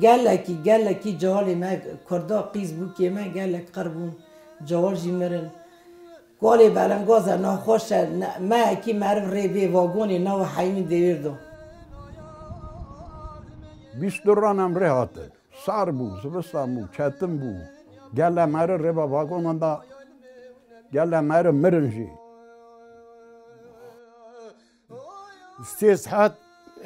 Gelekî gelekî cealê me kurda qîz bû kê me gelek qir bûn ceal jî mirin. Kalê belengaz e naxweş e me ekî meriv rê bê vagonê nawe heymîn dêwêr do. Bîst dur ranem rê hatin. Sar bû, zivistan bû, ketim bû. Gele meri rêva vagonan da. Gele meri mirin jî. Sê saet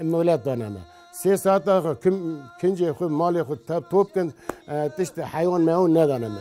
molet dane me. Sê saet da kim kincê xwe malê xwe tap top kin tiştê hewan mewan nedane me.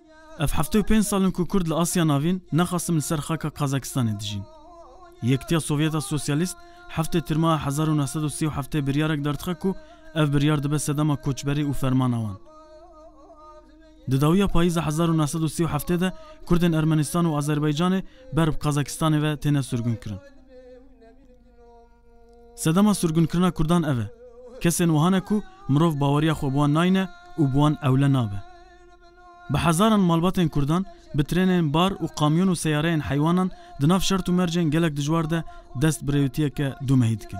Ev heftê û pênc sal in ku Kurd li Asya Navîn ne Qasim li ser xaka Qazakistanê dijîn. Yektiya Sovyet a Sosyalîst heftê Tirma a hezar û neh sed û sî û heftê biryarek dar dixe ku ev biryar dibe sedema koçberî û fermana wan. Di dawiya payîza hezar û neh sed û sî û heftê de Kurdên Ermenistan û Azerbaycanê ber bi Qazakistanê ve têne sirgunkirin. Sedema surgunkirina kurdan ev e. Kesên wiha ne ku mirov baweriya xwe bi wan nayne û bi wan ewle nabe. Bi hezaran malbatên kurdan bi trênên bar û kamyon û seyareyên heywanan di nav şert û mercên gelek dijwar de dest bi rêwitiyeke dûmehî dikin.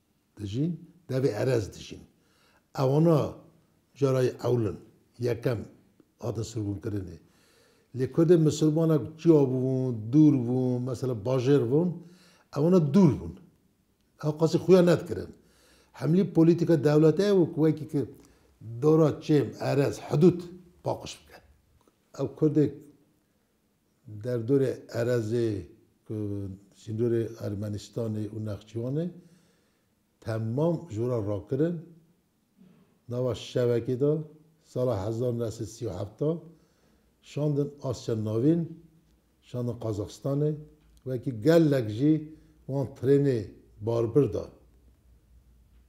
Dijîn, devê erez dijîn. Ewana carayê ewl in, yekem hatin sirgûnkirinê. Lê kurdên misilmanek çiya bûn, dûr bûn, mesela bajêr bûn, ewana dûr bûn. Ew qasî xuya nedikirin. Hemlî polîtîka dewlete ew ku wekî ki dora çêm, erez, hidûd paqij bike. Ew kurdê Derdorê erezê ku sînorê Ermenistanê û Nexçîwanê temam jora rakirin, nava şevekê de sala hezar nû sed sî û heft şandin Asya Navîn, şandin Qazaxistanê, wekî gelek jî wan trênê barbir da.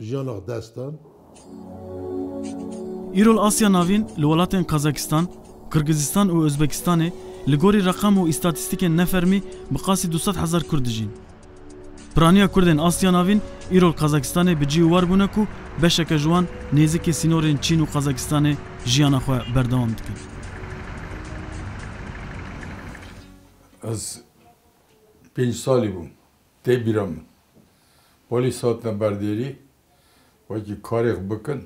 Jiyan ax dest dan. Îro li Asya Navîn li welatên Kazakistan, Kirgizistan û Ozbekistanê li gorî reqam û îstatîstîkên ne fermî bi qasî du sed hezar Kurd dijîn. Piraniya Kurdên Asya Navîn îro li Kazakistanê bi cî û war bûne ku beşeke ji wan nêzîkî sînorên Çîn û Kazakistanê jiyana xwe berdewam dikin. Ez pênc salî bûm. Tê bîra min. Polîs hatine ber dêrî wekî karê xwe bikin,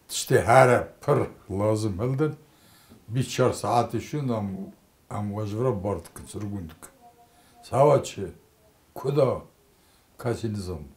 tiştê here pir lazim hildin, bîst çar saetê şûn de em we ji vir re bar dikin, sirgûn dikin. Çawa çi? Ku da? Kesî nizanibû.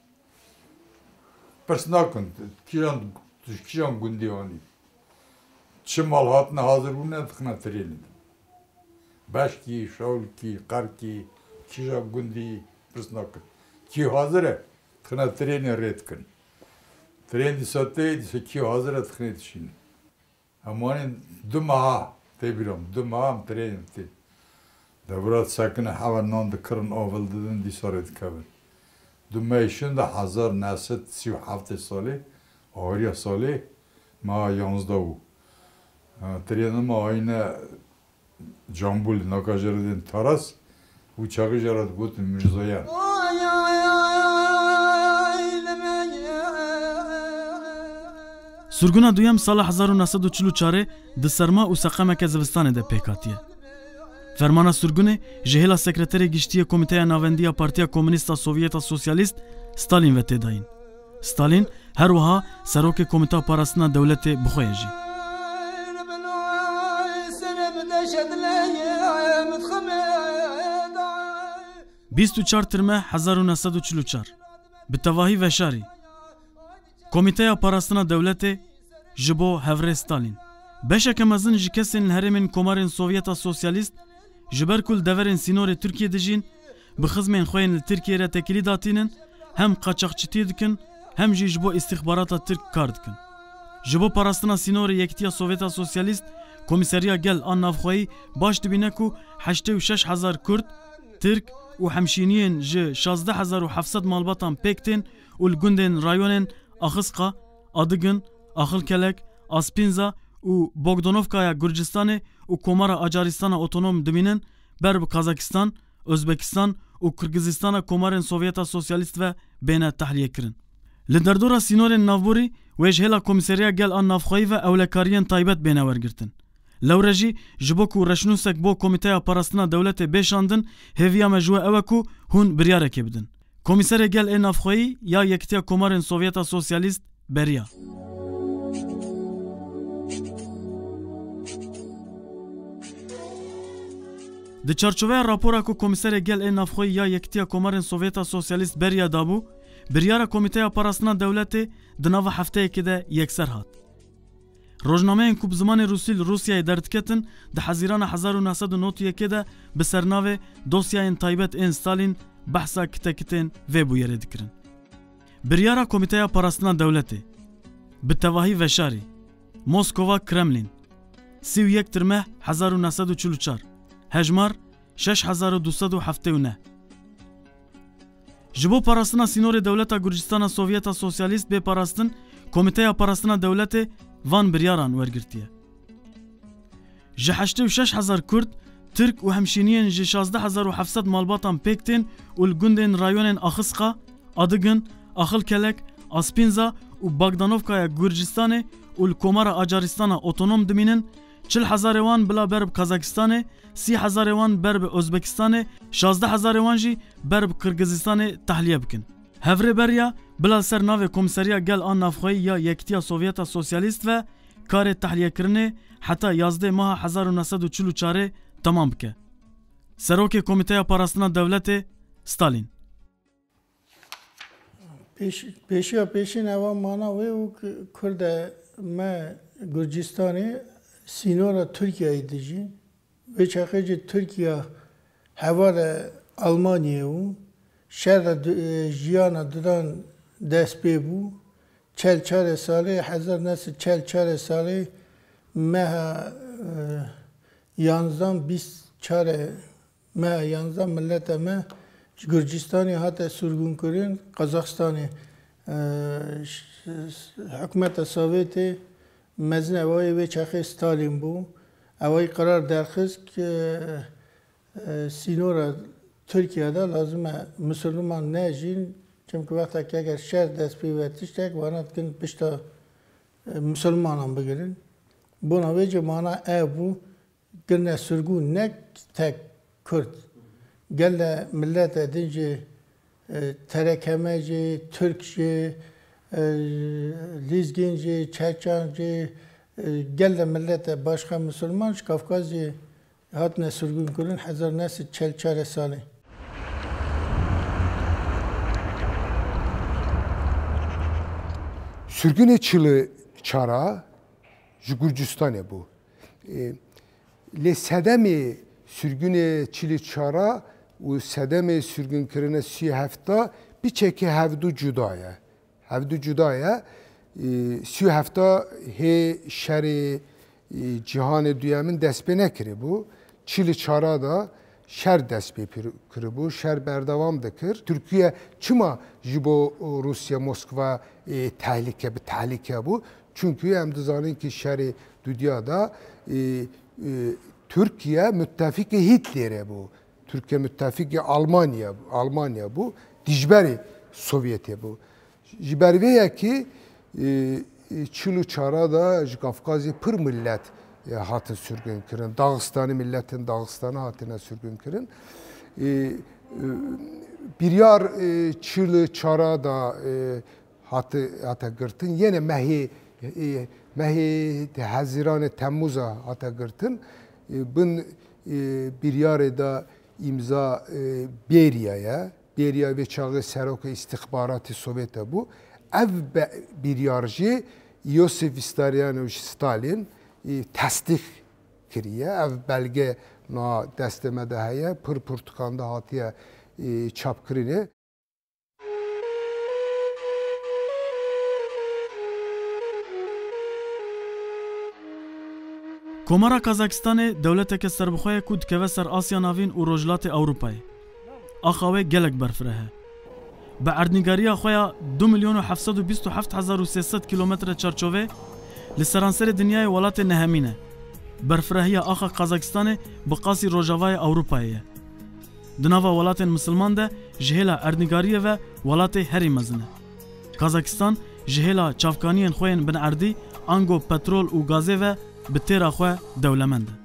Pirs nakin kîjan ji kîjan gundê anîn, çi mal hatine hazir bûne dixine tirênê de. Beşkî, Şewlikî, Qerkî, kîjan gundî pirs nakin. Kî hazir e dixine tirênê rê dikin. Tirên dîsa tê dîsa kî hazir e dixinê dişînin. Em wanê du meha, tê bîra min, du meha em trênê tê. Dewra disekine, hewa nan dikirin, avil didin, dîsa rê dikevin. Du mehê şinda hezar neh sed sî û heftê salê, ahiriya salê meha yanzda bû. Trêna me ayine Cambul, naka jê re didên Taras û çaxê jê re digotin Mirzayan. Surguna duyem sala hezar û neh sed û çil û çarê di serma û seqemeke zivistanê de pêk hatiye. Fermana surgunê ji hêla Sekreterê Giştî yê Komîteya Navendî ya Partiya Komûnîst a Sovyeta Sosyalîst, Stalîn ve tê dayîn. Stalin her wiha Serokê Komîta Parastina Dewletê bi xwe ye jî. Bîst û çar Tirme hezar û neh sed û çil û çar bi tevahî veşarî Komîteya Parastina Dewletê ji bo Hevrêz Stalin beşeke mezin ji kesên li herêmên komarên Sovyeta Sosyalîst ji ber ku li deverên sînorê Tirkiyê dijîn Bi xizmên xwe yên li Tirkiyeyê re tekilî datînin, hem qaçaxçitî dikin hem jî ji bo îstîxbarata Tirk kar dikin. Ji bo parastina sînorê Yekîtiya Sovyeta Sosyalîst, Komîseriya Gel a Navxweyî baş dibîne ku heştê û şeş hezar Kurd, Tirk û hemşîniyên ji şazdeh hezar û heft sed malbatan pêk tên û li gundên rayonên Axisqa, Adigin, Axilkelek, Aspînza û Bogdonovkaya Gurcistanê û Komara Acarîstana Otonom dimînin ber bi Kazakistan, Ozbekistan û Kirgizîstana komarên Sovyeta Sosyalîst ve bêne tehlîyekirin. Li derdora sînorên navborî wê ji hêla Komîseriya Gel a Navxweyî ve ewlekariyên taybet bêne wergirtin. Lewre jî ji bo ku reşnûsek bo Komîteya Parastina Dewletê bê şandin, hêviya me ji we ew e ku hûn biryarekê bidin. Komîserê Gel ê Navxweyî ya Yekîtiya Komarên Sovyeta Sosyalîst beriya. Di çarçoveya rapora ku Komîserê Gel ê Navxweyî ya Yekîtiya Komarên Sovyeta Sosyalîst beriya dabû, biryara Komîteya Parastina Dewletê di nava hefteyekê de yekser hat. Rojnameyên ku bi zimanê rûsî li Rûsyayê derdiketin, di hezîrana hezar û neh sed û nod û yekê de bi sernavê Dosyayên Taybet ên Stalîn behsa kitekitên vê bûyerê dikirin. Biryara Komîteya Parastina Dewletê, bi tevahî veşarî, Moskova, Kremlîn, sî û yek Tirmeh hezar û neh sed û çil û çar, hejmar, şeş hezar û du sed û heftê û neh, Ji bo parastina sînorê dewleta Gurcistana Sovyeta Sosyalîst bê parastin, Komîteya Parastina Dewletê van biryaran wergirtiye. Ji heştê û şeş hezar Kurd, Tirk û hemşîniyên ji şazdeh hezar û heft sed malbatan pêk tên û li gundên rayonên Axisqa, Adıgın, Axılkelek, Aspinza û Bagdanovkaya Gurcistanê û li Komara Acaristana Otonom dimînin, Çil hezarê wan bila ber bi Kazakistanê, sî hezarê wan ber bi Ozbekistanê, şazdeh hezarê wan jî ber bi Qirgizistanê tehliye bikin. Hevrê beriya bila ser navê Komseriya Gel a Navxweyî ya Yekîtiya Sovyeta Sosyalîst ve karê tehliyekirinê heta yazdê maha hezar û neh sed û çil û çarê temam bike. Serokê Komîteya Parastina Dewletê Stalîn. Pêşiya pêşîn eva mana wê û ku kurd e me Gurcistanê sînora Tirkiyeyê dijî. Vê çaxê jî Tirkiya hevalê Elmanyê û şer de jiyana didan dest pê bû. Çel çarê salê hezar neh sed çel çarê salê meha yanzdan bîst çarê Me yan za mileta me ji Gurcistanê hate surgûnkirin, Qazaxistanê hikûmeta Sovêtê mezin ewayê wê çaxê Stalin bû. Ewayî qerar derxist ke sînora Tirkiye de lazim e Misirliman nejîn çimkî wextekî eger şer dest pê ve tiştek wana dikin pişta Misirlimanan bigirin. Bona wê jî mana ev bû Kirine sirgûn ne tek kurd, gele milete din jî, terekeme jî, tirk jî, lîzgîn jî, çeçan jî, gele milete başka misilman ji Kafkazê hatine sirgûnkirin hezar neh sed çel çar e salê. Sirgûnê çil û çar a ji Gurcistanê bû. Lê sedemê sirgûnê çil û çar a û sedemê sirgûnkirine sî û heft a biçekê hevdu cuda ye. Hevdu cuda ye. Sî û heft a hê şerê Cîhanê Duyemin dest pê nekiribû. Çil û çar a de şer dest pê kiribû, şer berdewam dikir. Tirkiye çima ji bo Rûsya Moskva tehlike bi tehlike bû? Çunku em dizanin ki şerê dudya da Tirkiye mutefîkê Hîtlêrê bû. Tirkiye mutefîkê Almanya Almanya bû, dijberê Sovyetê bû. Ji ber vê yekê çil û çara de ji Kafkazê pir milet hatin sirgûnkirin. Daxistanî miletên Daxistanê hatine sirgûnkirin. Biryar çil û çara de hate girtin. Yene mehê mehê Hezîranê Temmûza hate girtin. Bin biryarê de îmza bêriya ye. Bêriya vê çaxê seroka îstîxbaratê Sovêta bû. Ev bîryar jî Yosîf Vîstarîyanoviç Stalîn î tesdîq kiriye. Ev belge na destê me de heye, pir pirtûkan de hatiye çapkirinê. Komara Kazakistanê dewleteke serbixwe ye ku dikeve ser Asya Navîn û Rojhilatê Ewropayê. Axa wê gelek berfireh e. Bi erdnîgariya xwe ya du milyon û heft sed û bîst û heft hezar û sê sed kîlometre çarçovê li seranserê dinyayê welatê nehemîn e. Berfirehiya axa Qazakistanê bi qasî rojavayê Ewropayê ye. Di nava welatên misilman de ji hêla erdnîgariyê ve welatê herî mezin e. Kazakistan ji hêla çavkaniyên xwe yên binerdî ango petrol û gazê ve bi têra xwe dewlemend e.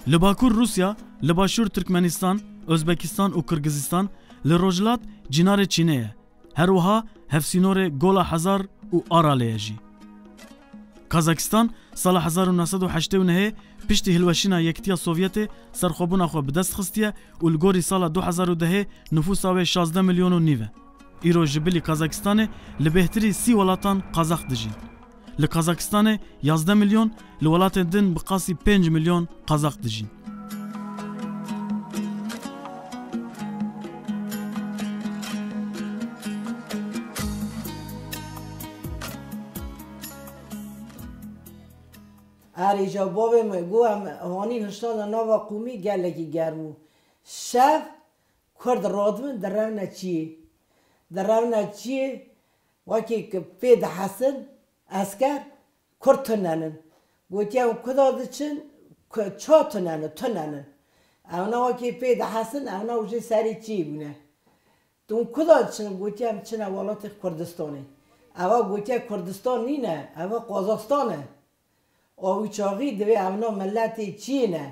Li Bakur Rûsya, li Başûr Tirkmenîstan, Ozbekîstan û Kirgizîstan, li Rojhilat Cînarê Çînê ye. Her wiha hevsînorê Gola Hezar û Aralê ye jî. Kazakîstan sala hezar û neh sed û heştê û nehê piştî hilweşîna Yekitiya Sovyetê serxwebûna xwe bi dest xistiye û li gorî sala du hezar û dehê nifûsa wê şazdeh milyon û nîv e. Îro ji bilî Kazakîstanê li bêhtirî sî welatan Kazak dijîn. Li Kazakistanê yazdeh milyon, li welatên din bi qasî pênc milyon Kazak dijîn. Ayrıca bavê min got em hanî hişna li nava qûmî gelekî germ û şev kurd radibin direvne çiyê. Direvne çiyê Wekî ke pê dihesin esker kurd tune nin. Gotiye ew kuda diçin ku ça tune nin, tune nin. Ewna wekî pê dihesin ewna û jê serî çî bûne. Tu hûn kuda diçin? Gotiye em diçine welatê Kurdistanê. Eva gotiye Kurdistan nîne, eva Qazaxstan e. Awuçaxî divê evna miletê çî ne,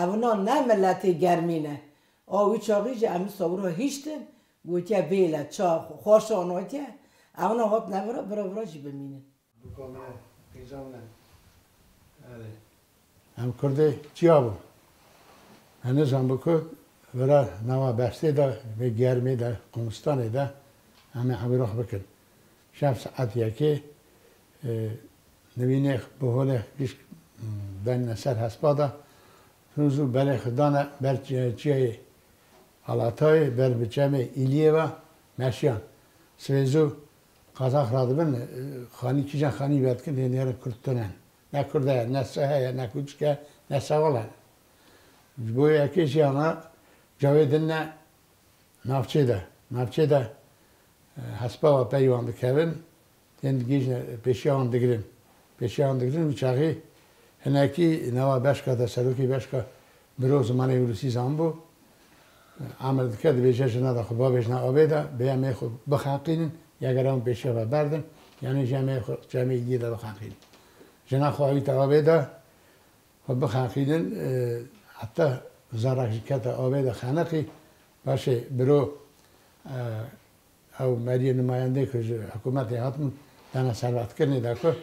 evna ne miletê germî ne. Awuçaxî jî em sewra hiştin gotiye vêle çax û xwaş anatiye, evna hatine vira, vira vira jî bimînin. Bûka me qîcan ne. Erê. Em kurdê çiya bû? Hene zanbû ku vira nawa bersê de vê germê de, qûmistanê de em ê ewrox bikin. Şev saet yekê Nivînêx bi holêx gişt benine ser hespa de. Firûz û berê xwe dane ber çiyayê Alatayê, ber bi çemê Îliyê ve meşiyan. Swêz û Qazax radibin, xanî kîjan xanî vedikin hê nêrin kurd tunen. Ne kurd heye, ne sehe ye, ne kûçik e, ne sewal e. Ji bo yekê jî ana cawê dine navçê de. Navçê de hespa ve peyvan dikevin. Tên digihîjin pêşiya wan digirin. Pêşiya wan digirin û çaxê hinekî newa beşka de serokê beşka mirov zimanê Ûrûsî zanibû. Emir dike dibêje jina de xwe babêjne avê de bi yemê xwe bixeqînin ya gera wan pêşiya ve berdin yanî ji yemê xwe ji yemê êdiyê de bixeqînin. Jina xwe awîte avê de xwe bixeqînin heta zarek jî kete avê de xeniqî paşê biro Ew beriyê numayendeyê ku ji hikûmetê hatibûn dana serwehtkirinê de ku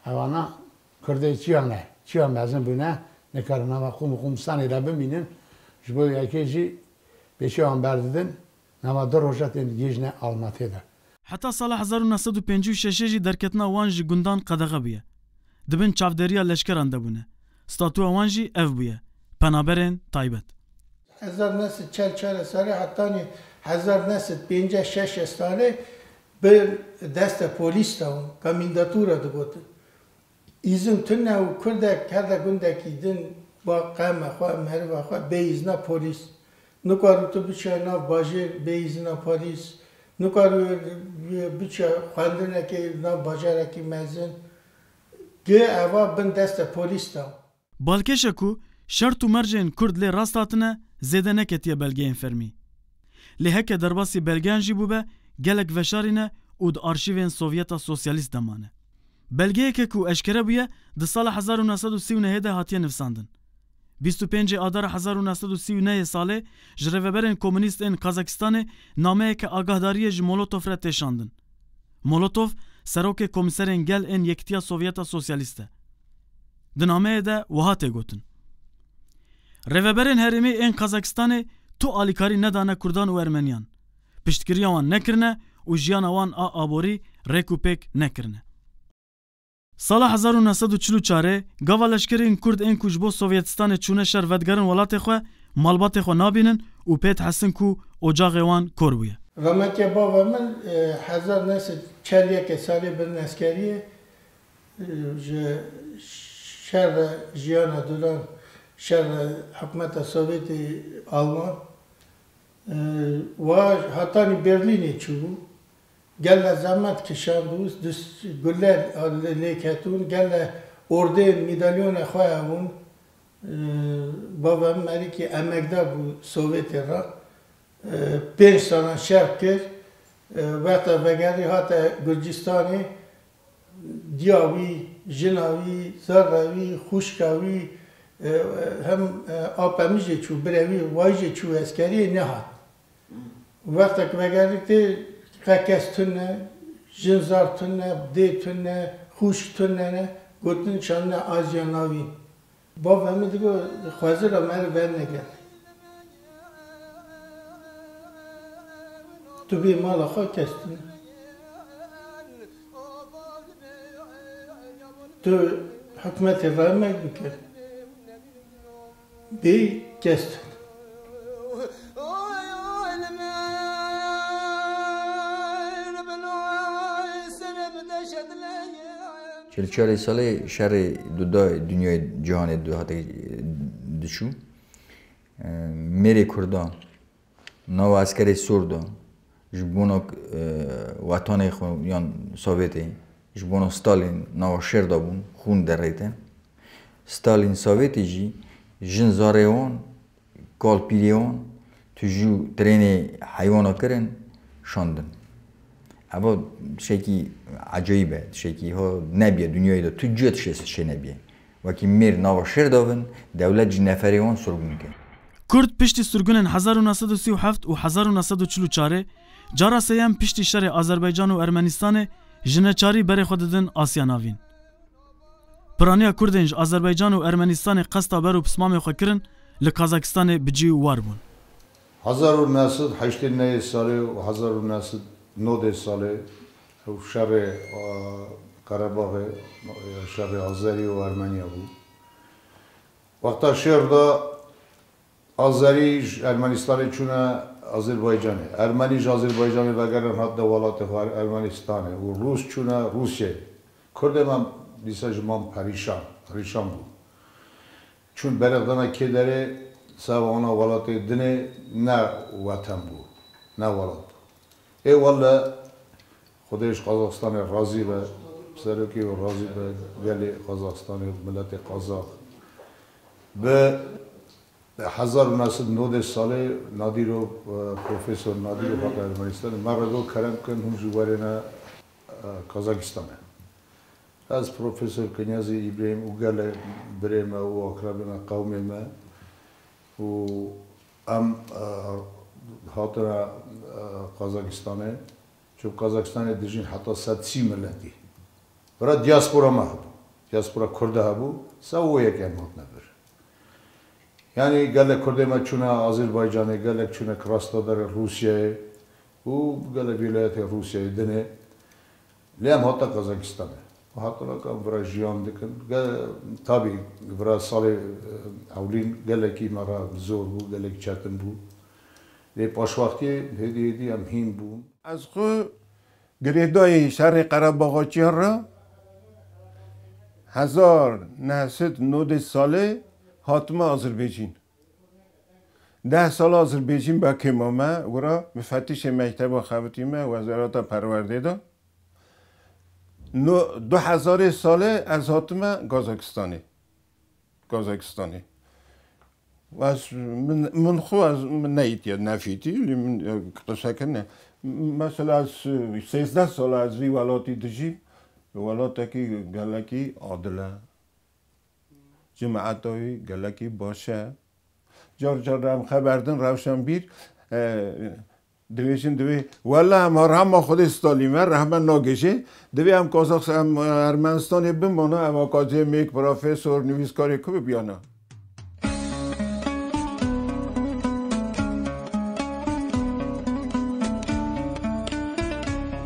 ewana Kurdê çiya ne, çiya mezin bûne, nikarin nava qûm û qûmistanê de bimînin, ji bo yekê jî pêşiya wan berdidin, nava du roja tên gihîjne Almatê de. Heta sala hezar û neh sed û pêncî û şeşê jî derketina wan ji gundan qedexe bûye. Di bin çavdêriya leşkeran de bûne. Statuya wan jî ev bûye, penaberên taybet. Hezar neh sed çel çar e sare hetanî hezar neh sed pênceh şeş e sare bi deste polîs de û komîndatura digotin îzin tune û kurdek her de gundekî din ba qeme xwe, meriva xwe bê îzna polîs nikarû tu biçiya nav bajêr bê îzina polîs, nikarû biçiya xwendinekê nav bajarekî mezin. Guh eva bin deste polîs da. Balkêşe ku şert û mercên Kurd lê rast hatine zêde neketiye belgeyên fermî. Lê heke derbasî belgeyan jî bûbe gelek veşarî ne û di arşîvên Sovyeta Sosyalîst de mane. Belgeyeke ku eşkere bûye di sala hezar û neh sed û sî û nehê de hatiye nivsandin. Bîst û pêncê adara hezar û neh sed û sî û neyê salê ji rêveberên komûnîst ên Kazakistanê nameyeke agahdariyê ji Molotov re tê şandin. Molotov serokê komîserên gel ên Yekitiya Sovyeta Sosyalîst e. Di nameyê de wiha tê gotin, Rêveberên herêmê ên Kazakistanê tu alîkarî nedane kurdan û ermeniyan, piştgiriya wan nekirine û jiyana wan a aborî rêk û pêk nekirine. Sala hezar û neh sed û çil û çarê gava leşkerên Kurd ên ku ji bo Sovyetistanê çûne şer vedigerin welatê xwe, malbatê xwe nabînin û pê dihestin ku ocaxê wan kor bûye. Remeke bava min hezar neh sed û çel û yekê salê bin eskeriyê ji şer re jiyana duran şer re hikûmeta Sovyetê Alman wa hatanî Berlînê çûbû. Gele zehmet kişand û gule lêketûn, gele ordeyên mîdalyona xwe hebûn. Bavem Merîkî emekdar bû Sowêtê re. Pênc salan şer kir. Wexta vegerî hate Gurcistanê, diya wî, jina wî, zerra wî, xwişka wî hem ape min jê çû, birevî wayî jê çû eskeriyê nehat. Wexta ku vegerî tê qe kes tund ne, jin zaf tund ne, dê tund ne, xûşk tund ne ne, gotin şandine aciya navî. Bavê min digot xwezir ra meriv vernege. Tu bê mala xwe kes tund ne. Tu hikûmetê raye merg bike. Bê kes tut. Çel çarê salê şerê duda dinyayê cîhanê diçû mêrê kurdan. Nava eskerê sor de ji bona wetanê xwe yan Sovêtê ji bona Stalin nava şer dabûn, xûn dereyte. Stalin Sovêtê jî jin zarê wan, kal pîrê wan tu jû trênê heywana kirin şandin. Eva tişekî ecayîb e, tişekî ha nebîye dinyayê de tu cuya tişê şê nebîye. Wekî mêr nava şêr dabin, dewlet jî neferê wan surgun dike. Kurd piştî surgunên hezar û neh sed û sî û heft û hezar û neh sed û çil û çarê, cara seyem piştî şerê Azerbaycan û Ermenistanê ji neçarî berê xwe didin Asya Navîn. Piraniya Kurdên ji Azerbaycan û Ermenistanê qesta ber û pismamê xwe kirin li Kazakistanê bi cî û war bûn. Hezar û neh sed û heştê neyê salê û hezar û neh sed û nodê salê Ew şerê Qerebaxê, şerê Azerî û Ermeniya bû. Wexta şêr da Azerî ji Ermenîstanê çûne Azerbaycanê, Ermenî ji Azerbaycanê vegerîne hatine welatê xwe Ermenîstanê û Rûs çûne Rûsyayê. Kurdê me dîsa ji mam perîşan, perîşan bû. Çûn beriq dana kê derê, seba wana welatê dinê ne wetem bû, ne welat bû. Ê wele Xwedê ji Qazaxistanê razî be, serokê û razî be gelê Qazaxistanê û miletê Qazax. Bi hezar û neh sed û nodeh salê Nadîro Profesor Nadîro hate Ermenistanê. Me re got kerem bikin hûn jî werêne Qazaxistanê. Ez Profesor Kenyazî Îbrehîm û gelek birê me û aqrebê me qewmê me û Em hatine Qazakistanê, çimk Qazakistanê dijîn heta sed sî miletî. Bira diaspora me hebû. Diaspora Kurda hebû, se û yek em hatine vir. Yanî gelek Kurdê me çûne Azerbaycanê, gelek çûne Krasnodar Rûsyayê û gelek wîlayetên Rûsyayê dinê. Lê em hatina Kazakistanê û hatina ka vira jiyan dikin. Tabî vira salê ewlîn gelekî me re zor bû, gelek çetin bû. Lê paşwextiyê hêdî hêdî em hîn bûn. Ez xwe girêdayî şerê Qerebaxaçiyan re. Hezar neh sed nodê salê hatime Azerbaîjîn. Deh sal Azrbêjîn bakê mame wira mifetişê mekteba xebitîme wezareta perwerdê de. No du hezarê salê ez hatime Gazakistanê. Gazakistanê. Ez min min xwe ez min neyîtiye nefîtî lê min qise kirine. Mesela ez sêzdeh sal ez vî welatî dijîm. Welatekî gelekî adil e. Cumetoy gelekî baş e. Car car em xeber din rewşenbîr dibêjin divê wele em arama xwedê Stalîn ve rehme nagêjê. Divê em Kazax em Ermenistanê bimana ev akademîk, profesor, nivîskarê ku bibiyana.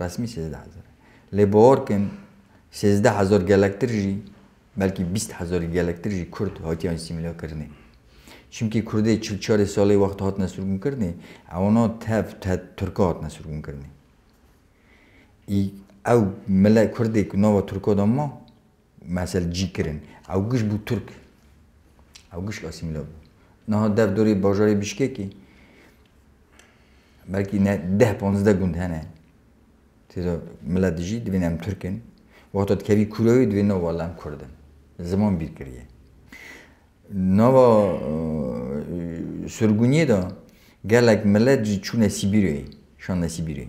Resmî sêzdeh hezar e. Lê bi orkin sêzdeh hezar gelektir jî belkî bîst hezarî gelektir jî kurd hatiye asîmîle kirinê. Çimkî kurdê çil çarê salê wext hatine sirgûn kirinê ewna tev te turka hatine sirgûn kirinê. Î ew mile kurdê ku nava turka de ma. Mesel cî kirin. Ewgiş bû Tirk. Ewgiş asîmîle bû. Niha dev dorê bajarê Bîşkekê belkî ne deh panzde gund hene. Têda milet dijî divên em Tirk in. Wexta dikevî kûrewê divê no wala em Kurd in. Ziman bîr kiriye. Nava surguniyê de gelek milet jî çûne Sîbîryayê, şande Sîbîryayê.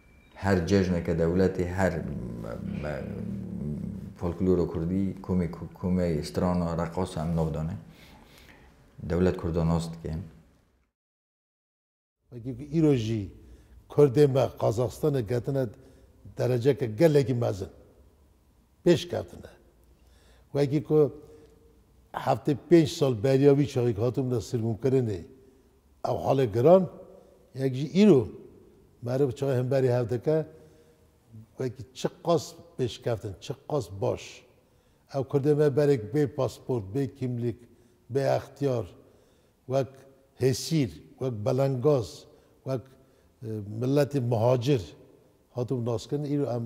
Her cejneke dewletê, her folklora kurdî komê ku komeyê strana, reqasa em nav dane. Dewlet kurda nas dike. Wekî ku îro jî kurdên me Qazaxistanê ketine dereceke gelekî mezin. Pêş ketine. Wekî ku heftê pênc sal beriya wî çaxê ku hatibûne sirgûnkirinê Ev halê giran yek jî îro meriv çaye hemberî hev dike wekî çiqas pêşkeftin, çiqas baş. Ew kurdê me berek bê pasport, bê kîmlîk, bê extiyar, wek hêsîr, wek belengaz, wek miletê mihacir hatibû naskirin, îro em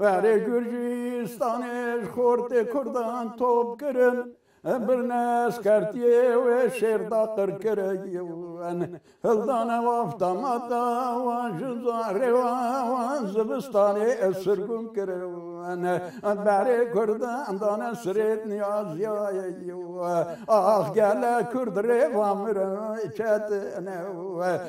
Erê Gurcistanê ji xortê Kurdan top kirin, birine eskertiyê wê şêrda qir kirin. Hildane wafta mata wan ji zarê wan zivistanê sirgûn kirin. Berê Kurdan dane sirêt niyaziyayê. Ax gelek Kurd rê va mirin ketine.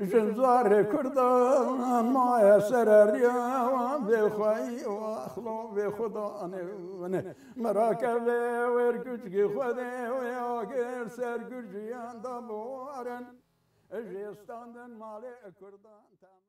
Jin zarê kurda maye sereriya vê xweyî û exlo vê xwe da anê winê. Mirake vê wêr kuçkî Xwedê wê agir ser Gurciyan da bi warin ji standin malê kurdan temiz.